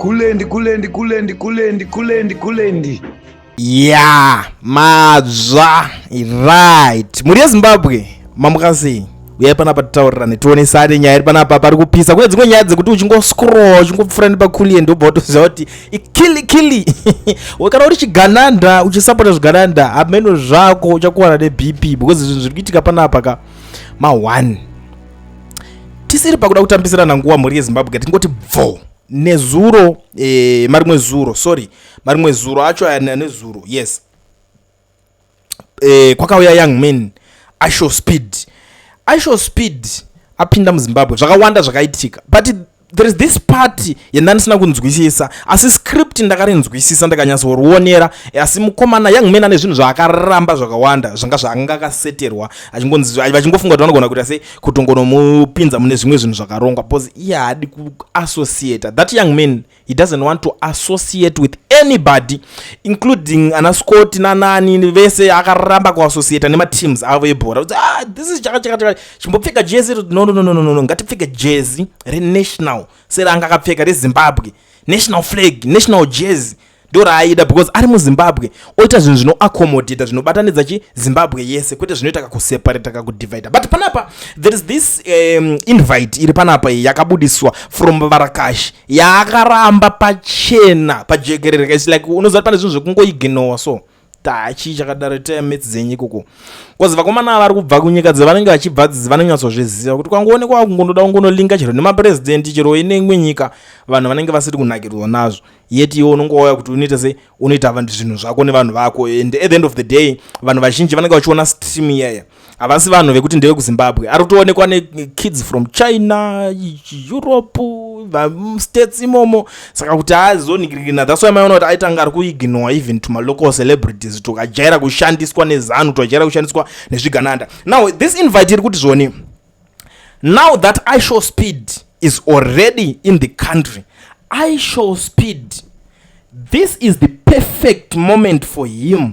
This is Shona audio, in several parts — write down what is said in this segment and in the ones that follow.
kulendi kulendi kulendi kulendi kulendi kulendi ya madzva right mhuri yezimbabwe mamuka sei uyai panapa titaurirane tionesane nyaya iri panapa pari kupisa kune dzimwe nyaya dzekuti uchingoscroll uchingopfura nepakulie ndobva watoziva kuti ikili kili kana uri chigananda uchisapota zvigananda hameno zvako uchakuwana nebp because zvinhu zviri kuitika panapa ka ma1 tisiri pakuda kutambisirana nguva mhuri yezimbabwe tingoti bvoo nezuro eh, marimwe zuro sorry marimwe zuro acho ayana nezuro yes eh, kwakauya young man ishow speed ishow speed apinda muzimbabwe zvakawanda zvakaitika but there is this party yandandisina kunzwisisa asi script ndakarinzwisisa ndakanyatsorionera asi mukomana young man ane zvinhu zvaakaramba zvakawanda zvanga zvaanga akaseterwa vachingofunga kuti vanogona kuita sei kutongonomupinza mune zvimwe zvinhu zvakarongwa bcause iye haadi kuassociata that young man he doesn't want to associate with anybody including ana scott nanani vese akaramba kuassociata nemateams avo ebhora ah, this is chakachakachaka chimbopfeka jezi no, no, no, no, no, no. ngatipfeke jezi renational seranga akapfeka rezimbabwe national flag national jezi ndo raaida because ari muzimbabwe oita zvinhu zvinoaccomodata zvinobatanidza chi zimbabwe yese kwete zvinoita kakuseparata kakudivida but panapa there is this um, invite iri panapa iyi yakabudiswa from varakashi yaakaramba pachena pajekerere kaisi like unoziva kuti pane zvinhu zvekungoiginowa so taa chii chakadaro itai metsi dzenyu ikoko bcause vakomana vari kubva kunyika dzevanenge vachibva dzidzi vanonyatsozviziva kuti kwangoonekwa vakungonoda kungonolinga chero nemapurezidendi chero ine imwe nyika vanhu vanenge vasiri kunakirwa nazvo yet iwe unongouya kuti unoita sei unoita zvinhu zvako nevanhu vako and at the end of the day vanhu vazhinji vanenge vachiona stream iyaya havasi vanhu vekuti ndevekuzimbabwe ari kutoonekwa nekids from china europe states imomo saka kuti aazonigirigina thats why maiona kuti aitanga ari kuignore even to malocal celebrities tokajaira kushandiswa nezanu tokajaira kushandiswa nezvigananda now this invite iri kuti zvoni now that i show speed is already in the country i show speed this is the perfect moment for him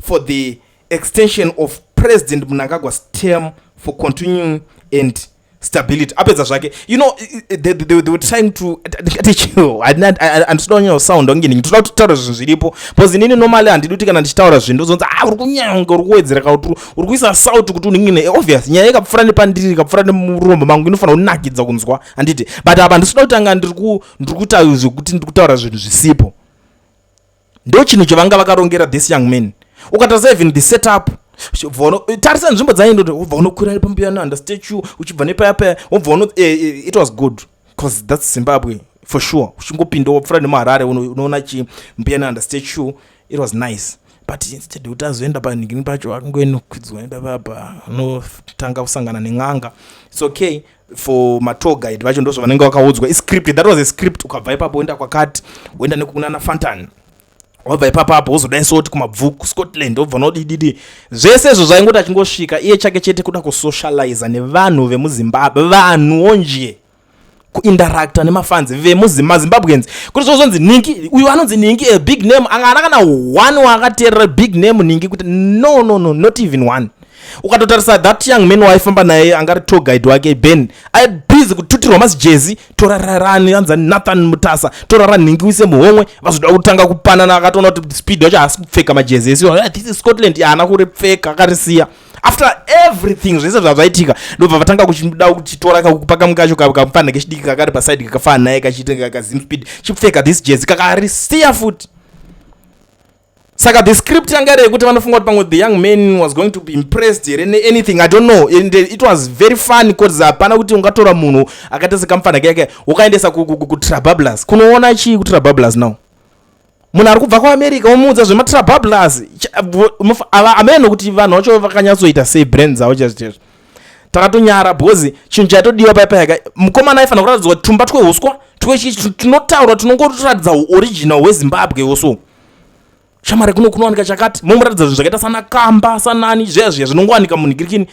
for the extension of president mnangagwa's term for continuing and stability apedza zvake you know they, they, they were trying to handisida kunyanya kusounda kunge ndingi toda kutaura zvinhu zviripo bcause inini normally handidi kuti kana ndichitaura zvinhu ndozonzi ah uri kunyanya kunge uri kuwedzera ka kuti uri kuisa salt kuti unenge ne obvious nyaya ikapfura nepandiri ikapfura nemurombo mangu inofanira kunakidza kunzwa handiti but apa handisida kutanga ndiri kutaura zvekuti ndiri kutaura zvinhu zvisipo ndo chinhu chavanga vakarongera this young man ukatarisa even the setup tarisa nzvimbo dzainoti wobva unokwira ari pambuya nanda statue uchibva nepaya paya wobva uno eh, eh, it was good bcause thats zimbabwe for sure uchingopinda wopfura nemuharare unoona chi mbuya nanda statue it was nice but instead kuti azoenda panhingini pacho akungoenokwidzwa nepapapa anotanga kusangana nen'anga its okay for matour guide vacho ndozvo vanenge vakaudzwa iscript that was a script ukabva ipapo woenda kwakati woenda nekukunana fantan wabva ipapo apo wozodai soti kumabvu kuscotland wobva nodididi zvese izvo zvaingoti achingosvika iye chake chete kuda kusocializa nevanhu vemuzimbabwe vanhuwo nje kuinteracta nemafanzi vemuzimbabweans kuti zvozonzi ningi uyu anonzi ningi a big name anga ana kana one waakateerera big name ningi kuti no no no not even one ukatotarisa that young man waaifamba naye angari tour guide wake ben aibhizi kututirwa masijezi tora rarani anza nathan mutasa tora ranhingi uise muhomwe vazoda kutanga kupanana akatoona kuti speed wacho haasi kupfeka majezi esi ah, this is scotland haana kuripfeka akarisiya after everything zvese zvazvaitika ndobva vatanga kuchida kuchitora kakupa kamu kacho kamupfanha kechidiki kakari paside kakafana naye kachitenga kazim speed chipfeka this jezi kakarisiya futi saka the script yanga iri yekuti vanofunga kuti pamwe the young man was going to be impressed here neanything i don't know and it was very fun bcause hapana kuti ungatora munhu akaita sekamfana keke ukaendesa kutrabablus kunoona chii kutrabablus now munhu ari kubva kuamerica womuudza zvematrabablus ameno kuti vanhu vacho vakanyatsoita sei brand dzavo chezvichezvo takatonyara bcause chinhu chaitodiwa pai payaka mukomana aifanira kuratidzwa tumba twehuswa twechii tunotaurwa tunongotoratidza uoriginal hwezimbabwe woso shamare kuno kunowanika chakati momuratidza zvinhu zvakaita sana kamba sanani zveya zviya zvinongowanika munhikirikini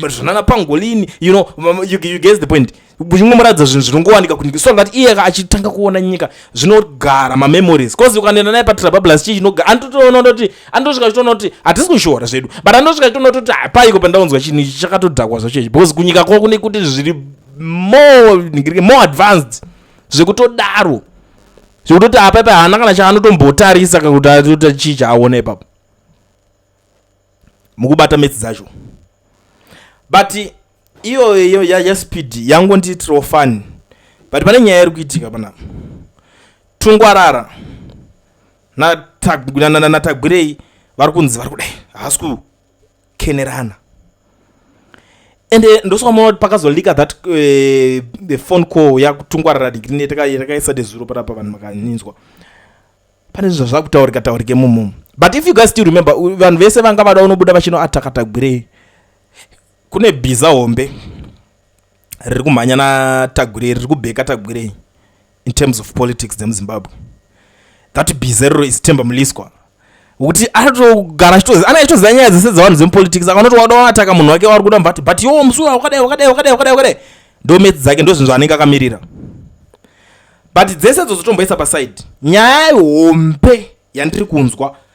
zvanana pangolini you know you, you guess the point kuchingomuratidza zvinhu zvinongowanika kunyika so that iye achitanga kuona nyika zvinogara mamemories bcause ukanoenda naye patrabablas chii chinogara andotoona toti andosvika chitoona kuti hatisi kushora zvedu but andosvika chitoona toti hapaiko pandaunzwa chinhu ichi chakatodhakwa zvacho ichi bcause kunyika kwavo kune kuti zviri more more advanced zvekutodaro zvekutoti apa ipa haana kana chaanotombotarisa kakuti atota chii chaaona ipapo mukubata metsi dzacho but iyoyo yaspeed yangondiitirawo fani but pane nyaya iri kuitika panapa tungwarara natagwirei vari kunzi vari kudai haasi ku kukenerana and eh, ndosokamona kuti pakazolika that eh, the phone call yakutungwarara digrini yatakaisa dezuro parapa vanhu makaninzwa pane zvinhu zvakutaurika taurike mumomo but if you guys still remember vanhu vese vanga vada unobuda vachinoatakatagwirei kune bhiza hombe riri kumhanya natagwirei riri kubheka tagwirei in terms of politics dzemuzimbabwe that bizerro is temba muliswa wekuti anotogara achitozi ana achitoziva nyaya dzese dzevanhu dzemupolitics akanoti wada wanataka munhu wake wari kuda mubati but yo musura wakadai wakadai wakadai wakadai wakadai ndomedzi dzake ndozvinhu zvaanenge akamirira but dzese dzozotomboisa paside nyaya hombe yandiri kunzwa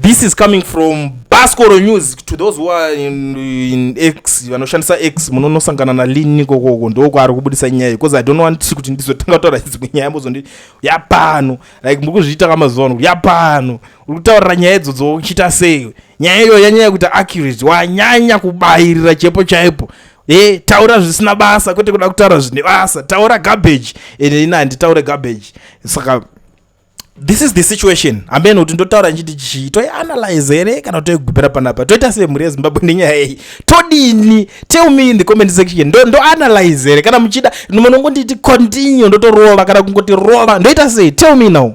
this is coming from bascoro news to those who are in, in x vanoshandisa x munonosangana nalin ikokoko ndokwaari kubudisa nyaya bcause i don't want kuti ndizotanga kutaura dzimwe nyaya mozondi yapano like muri kuzviita kamazuva ano kuti yapano uri kutaurira nyaya idzodzo uchiita sei nyaya iyoyo yanyaya kuita accurate wanyanya kubayirira chepo chaipo e taura zvisina basa kwete kuda kutaura zvine basa taura garbage ende ini handitaure garbage saka this is the situation hameno kuti ndotaura ndichiti chii toianalyze here kana toigubira panapa toita semhuri yezimbabwe nenyaya iyi todini tell me in the comment section ndo ndoanalyze here kana muchida munongonditi continue ndotorova kana kungoti rova ndoita sei tell me now